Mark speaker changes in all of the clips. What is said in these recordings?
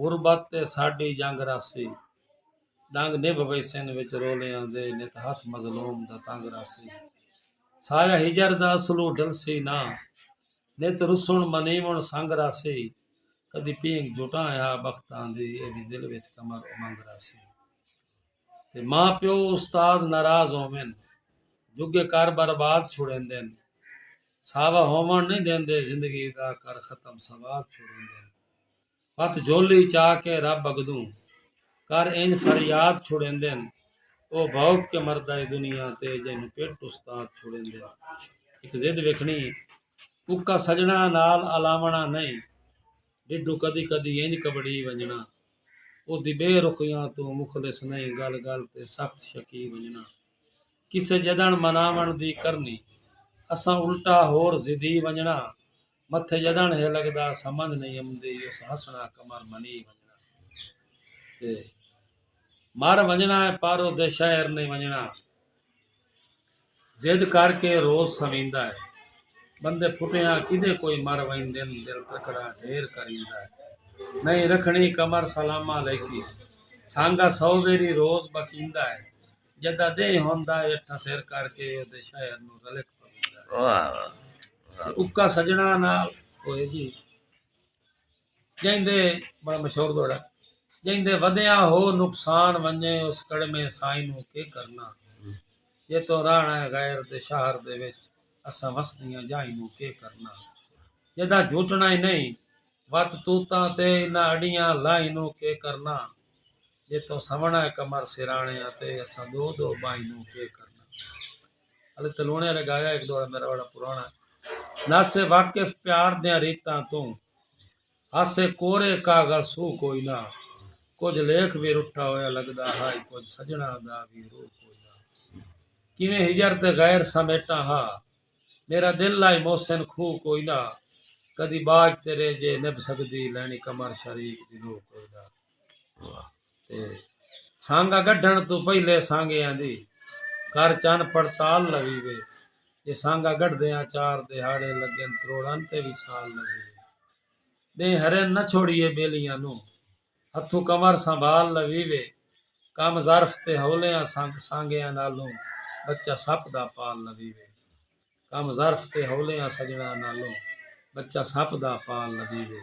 Speaker 1: غربت تے ساݙی جنگ رہسی۔ ݙنگ نبھ ویسن وچ رولیاں دے نت ہتھ مظلوم دا تنگ رہسی۔ سایہ ہجر دا اسلو ڈلسی نہ نت رسݨ منیوݨ سنگ رہسی۔ کدی پینگ جھٹاں ہا بختاں دی اے وی دل وچ کمر امنگ رہسی۔ تے ماء پیو استاد ناراض ہوون جھڳے کر برباد چھوڑیندن۔ ساوا ہووݨ نئیں ݙیندے زندگی دا کر ختم سواد چھوڑیندن۔ ہتھ جھولی چا کے رب اگدوں کر انج فریاد چھڑیندن او بھوک کے مردا اے دنیا تے جینوں پٹ استاد چھڑیندن ایک ضد ویکھنی اکا سجنا نال الاونڑا نہیں ڈڈو کدی کدی انج کبڑی ونجنا او دی بے رخیاں توں مخلص نہیں گل گل تے سخت شکی ونجنا کسے جدن مناونڑ دی کرنی اساں الٹا ہور ضدی ونجنا۔ متھے جدن ہے لگدا سمجھ نہیں امدی اس ہسنا کمر منی ونجنا تے مر ونجنا ہے پارو دے شہر نہیں ونجنا جد کر کے روز سمیندا ہے بندے پھٹیاں کدے کوئی مر ویندن دل تکڑا ڈھیر کریندا ہے نہیں رکھنی کمر سلام علیکی سانگا سو ویری روز بکیندا ہے جڈاں ڈینہہ ہوندا ہے اٹھاں سر کر کے اودے شہر نوں رلک پویندا ہے۔ واہ واہ تے واہ اکا
Speaker 2: سجناں
Speaker 1: نال ہوئے جی جیندے بڑا مشہور دوڑا جیندے ودیاں ہو نقصان ونجے اس کڑمے سائنوں کے کرنا جے تو راہنا ہے غیر دے شہر دے وچ اساں وسدیاں جاہنوں کے کرنا جداں جھوٹنا ہی نہیں وت توتاں تے انہاں اڈیاں لاہنوں کے کرنا جے توں سوہݨا ہے قمر سراݨے آتے اساں دو دو ٻاہیں نوں کے کرݨا علی تلوݨے آلے گایا ہک دوڑا میرا وڑا پراݨا نہ سے واقف پیار دیاں ریتاں توں ہاسے کورے کاغذ سو کوئی نہ کچھ لیکھ بھی رٹھا ہویا لگدا ہائی کچھ سجنا دا بھی روح کوئی نہ کیویں ہجر تے غیر سمیٹا ہا میرا دل لائی محسن کھو کوئی نہ کدی باج تیرے جے نبھ سکدی لینی قمر شریک دی لو کوئی نہ سانگا گڈھنڑ توں پہلے سانگیاں دی کر چن پڑتال لوی وے جے سانگا گڈھدیاں چار دیہاڑے لگن تروڑن تے وی سال لوی وے ڈینہہ ہرن نہ چھوڑیے بیلیاں نو ہتھوں کمر سنبھال لوی وے کم ظرف تے ہولیاں سانگ سانگیاں نالوں بچہ سپ دا پال لوی وے کم ظرف تے ہولیاں سجنڑاں نالوں بچہ سپ دا پال لوی وے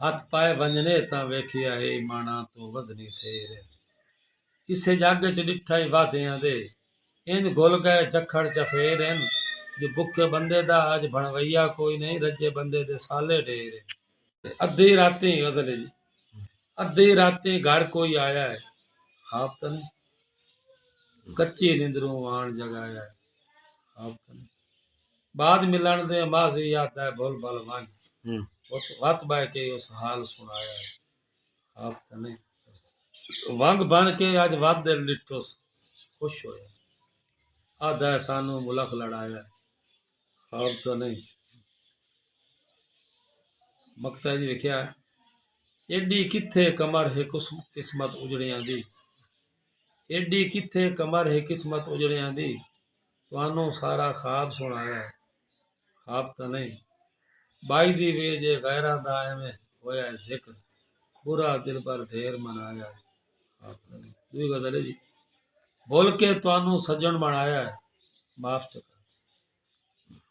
Speaker 1: ہتھ پائے ونجنے تاں ویکھیا ہے ایماناں توں وزنی سیر کسے جگ اچ ڈٹھا ہی وعدیاں دے انج گھل گئے جکھڑ چفیر ہن جو بکھے بندے دا اج بھنویا کوئی نہیں رجے بندے دے سالے ڈھیر ہن۔ ادھی راتی غزل ہے جی ادھی راتی گھر کوئی آیا ہے خواب تاں نہیں کچی نندروں آن جگایا ہے بعد ملن دے ماضی یاد آئے بھل بھل ونج وت وت بہ کے اس حال سنایا ہے خواب تے نہیں ونگ بن کے اج ود دے ڈٹھوس خوش ہویا آدھا ہے سانو ملک لڑایا ہے خواب تے نہیں مکتا جی لکھیا ایڈی کتھے کمر ہے قسمت اجڑیاں دی ایݙی کتھے کمر ہے قسمت اجڑیاں دی تہانوں سارا خواب سݨایا ہے خواب تاں نہیں بائی دی وے جے غیراں دا ایویں ہویا ہے ذکر برا دلبر ڈھیر منایا ہے خواب تاں نہیں دوئی غزل ہے جی بھول کے تہانوں سجن بنایا ہے معاف چکا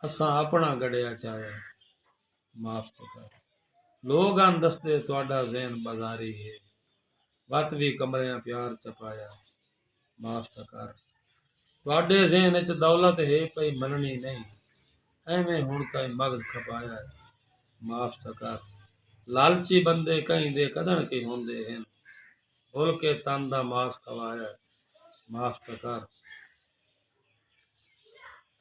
Speaker 1: اساں اپنا گڑیا چایا ہے معاف تھے کر لوگ آن دستے تہاڈا ذہن بازاری ہے وت وی کمریاں پیار چپایا معاف تھے کر تہاڈے ذہن وچ دولت ہے پئی مننی نہیں ایویں ہن تائیں مغز کھپایا ہے معاف تھے کر لالچی بندے کہیں دے کدن کے ہوندے ہن بھل کے تن دا ماس کھوایا ہے معاف تھے کر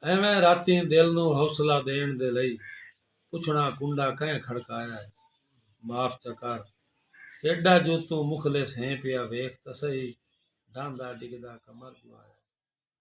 Speaker 1: ایویں راتیں دل نوں حوصلہ ݙیݨ دے لئی پچھݨا کنڈا کئیں کھڑکایا ہے معاف چا کر ایڈا جو توں مخلص ہیں پیا ویکھ تاں سہی ڈھاندا ڈگھدا کمر جو آیا ہے